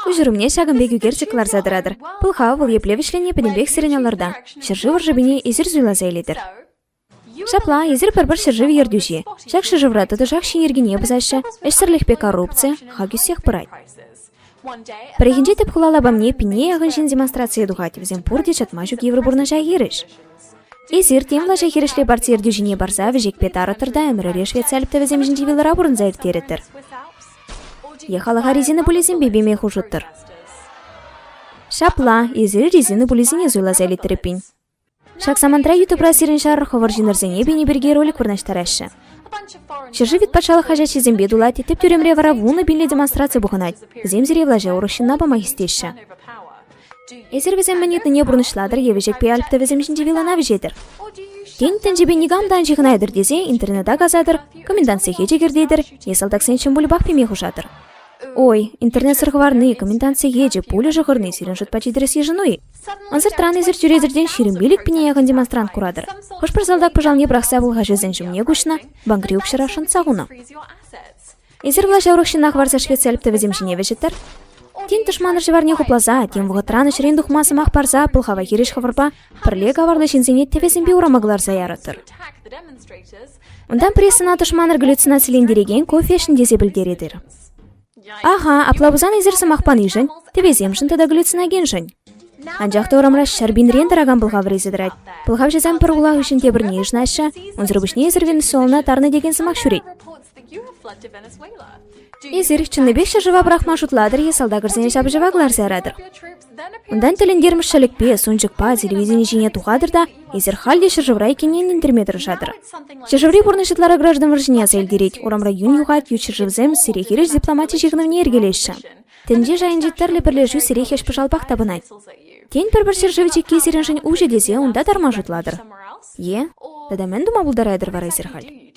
Куҫӑрӑмне ҫакӑн пек ӳкерчӗк кӑларса тӑратӑр. Пӑлхав вӑл епле вӗҫленни пӗтӗмпех сирӗн аллӑрта. Ҫӗршыв ӑршипене эсир суйласа илетӗр. Ҫапла, эсир пӗр-пӗр ҫӗршыв ертӳҫи. Ҫак ҫӗршывра тӑтӑшах ҫын йӗркине пӑсаҫҫӗ, ӗҫсӗрлӗхпе коррупци, хак ӳссех пырать. Пӗррехинче тӗп хула лапамне пинне яхӑн ҫын демонстрацие тухать, вӗсем пурте чатма ҫук йывӑр пурнӑҫа хирӗҫ. Эсир тем влаҫа хирӗҫле парти ертӳҫине парса вӗҫекпе тарӑттӑр та ӗмӗрӗре швеци альптӑвӗсем ҫинчи вилӑра пурӑнса ирттерӗттӗр. Е халӑха резина пулисемпе пеме хушӑттӑр. Ҫапла, эсир резина пулисене суйласа илетӗр эппин. Ҫак самантра ютубра сирӗн ҫар хӑвӑр ҫыннӑрсене пени пирки ролик вырнаҫтараҫҫӗ. Ҫӗршыв вит патшалӑх хаҫатҫисемпе тулать, тӗп тӳремре вара вунӑ пинлӗ демонстраци пухӑнать. Вӗсем сире влаҫа урӑх ҫынна пама хистеҫҫӗ. Эсир вӗсем мӗн ыйтнине пурнӑҫлатӑр е вӗҫекпе Альп тӑвӗсем ҫинчи вилӑна вӗҫетӗр. Тен, тӗнчепе никам та ан ҫыхӑнайтӑр тесе интернета касатӑр, комендант сехечӗ кӗртетӗр е салтаксен ҫӑм пульпах пеме хушатӑр. Ой, интернетсӗр хӑварни, комендант сехечӗ, пулӗ шӑхӑрни сирӗн шутпа чи тӗрӗс йышӑну-и? Ӑнсӑртран эсир чӳречерен ҫирӗм пилӗк пине яхӑн демонстрант куратӑр. Хӑш-пӗр салтак пӑшалне пӑрахса пӑлхаҫӑсен ҫумне куҫнӑ, банкри укҫӑра шӑнтса хунӑ. Эсир влаҫа урӑх ҫынна хӑварса ӗҫлетсе лӗптӑвӗсем ҫине вӗҫӗттӗр. Тен, тӑшманӑр ҫӑварне хупласа, тем вӑхӑтран ӗҫрен тухма сӑмах парса пӑлхава хирӗҫ хӑвӑрпа пӗрле каварлӑ ҫынсене тӗвӗсемпе урама кӑларса ярӑттӑр. Унтан прессӑна тӑшманӑр галлюцинацилентерекен кофешн тесе пӗлтеретӗр. Аха, апла пулсан эсир сӑмах панишӗн, тӗвесемшӗн тата галлюциногеншӗн. Анчах та урамра ҫӗр пинрен тӑракан пӑлхав рейсӗ тӑрать. Пӑлхавҫӑсем пӗр хула хыҫҫӑн те пӗрне йышнаҫҫӗ, унсӑр пуҫне эсир Венесуэлӑна тарнӑ текен сӑмах ҫӳрет. Эсир чӑннипех ҫӗршыва пӑрахма шутлатӑр-и, салтакӑрсене ҫапӑҫӑва кӑларса яратӑр. Унтан тӗлӗнтермӗш ҫӗлӗкпе, сунчӑкпа, телевидени ҫине тухатӑр та эсир халь те ҫӗршывра иккенне ӗнентерме тӑрӑшатӑр. Ҫӗршыври пурнӑҫ ытлара граждан вӑрҫине аса илтерет, урамра юн юхать, ют ҫӗршывсем сире хирӗҫ дипломати ҫыхӑнӑвне йӗркелеҫҫӗ. Тӗнче шайӗнчи тӗрлӗ пӗрлешӳ сире хӗҫ-пӑшалпах тапӑнать. Тен, пӗр-пӗр ҫӗршыв чикки сирӗншӗн уҫӑ тесе унта тарма шутлатӑр? Е? Тата мӗн тума пултаратӑр вара эсир халь?